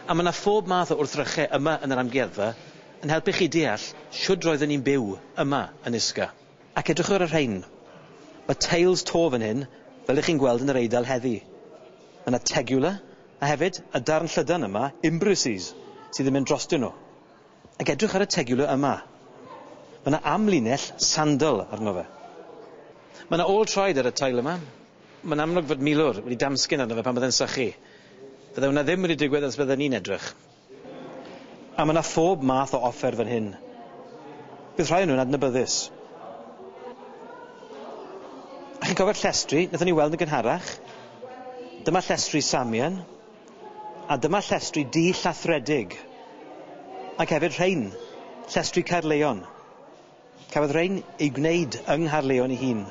A mae 'na phob math o wrthrychau yma yn yr Amgueddfa yn helpu chi deall shwd roedden ni'n byw yma yn Isca. Ac edrychwch ar y rhain. Mae teils to fan hyn, fel y'ch chi'n gweld yn yr Eidal heddi. Mae 'na tegula, a hefyd, y darn llydan yma, imbruses, sydd yn mynd drostyn nhw. Ac edrych ar y tegule yma. Mae yna amlinell sandal arno fe. Mae yna ôl traed ar y tail yma. Mae'n amlwg fod milwr wedi damsgyn arno fe pan bydde'n sychu. Fydde hwnna ddim wedi digwydd os bydden ni'n edrych. A mae yna phob math o offer fan hyn. Bydd rhai o nhw'n adnabyddus. A chi'n cofio'r llestri wnaethon ni weld yn gynharach? Dyma llestri Samian. A dyma llestri du llathredig, ac hefyd rhein, llestri Caerlleon. Cafodd rhein eu gwneud yng Nghaerlleon ei hun.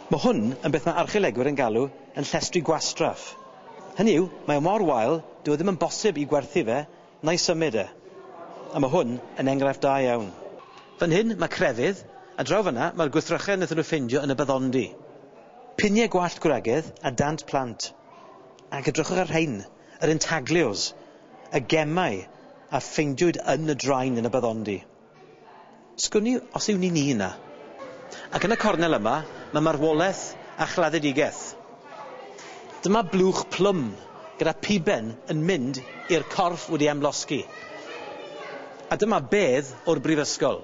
Mae hwn yn beth mae archeolegwyr yn galw yn llestri gwastraff. Hynny yw, mae o mor wael, dyw e ddim yn bosib i gwerthu fe Nai symud e. A ma hwn yn engraifft da iawn. Fan hyn ma crefydd, a draw fanna ma'r gwrthrychedd naethon nhw ffindio yn y baddondi. Pinie gwallt gwragedd a dant plant. Ac edrychwch ar rhein, yr intaglios, y gemau a ffeindiwyd yn y drain yn y baddondi. Sgwn i os yw ni'n un a. Ac yn y cornel yma, mae marwolaeth a chladdedigaeth. Dyma blwch plwm gyda phuben yn mynd i'r corff wedi amlosgi. A dyma bedd o'r brifysgol.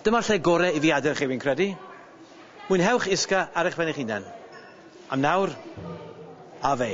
Dyma'r lle gore i fi adel chi, fi'n credu. Mwynhewch isga ar eich pen eich hunan. Am nawr, Ave.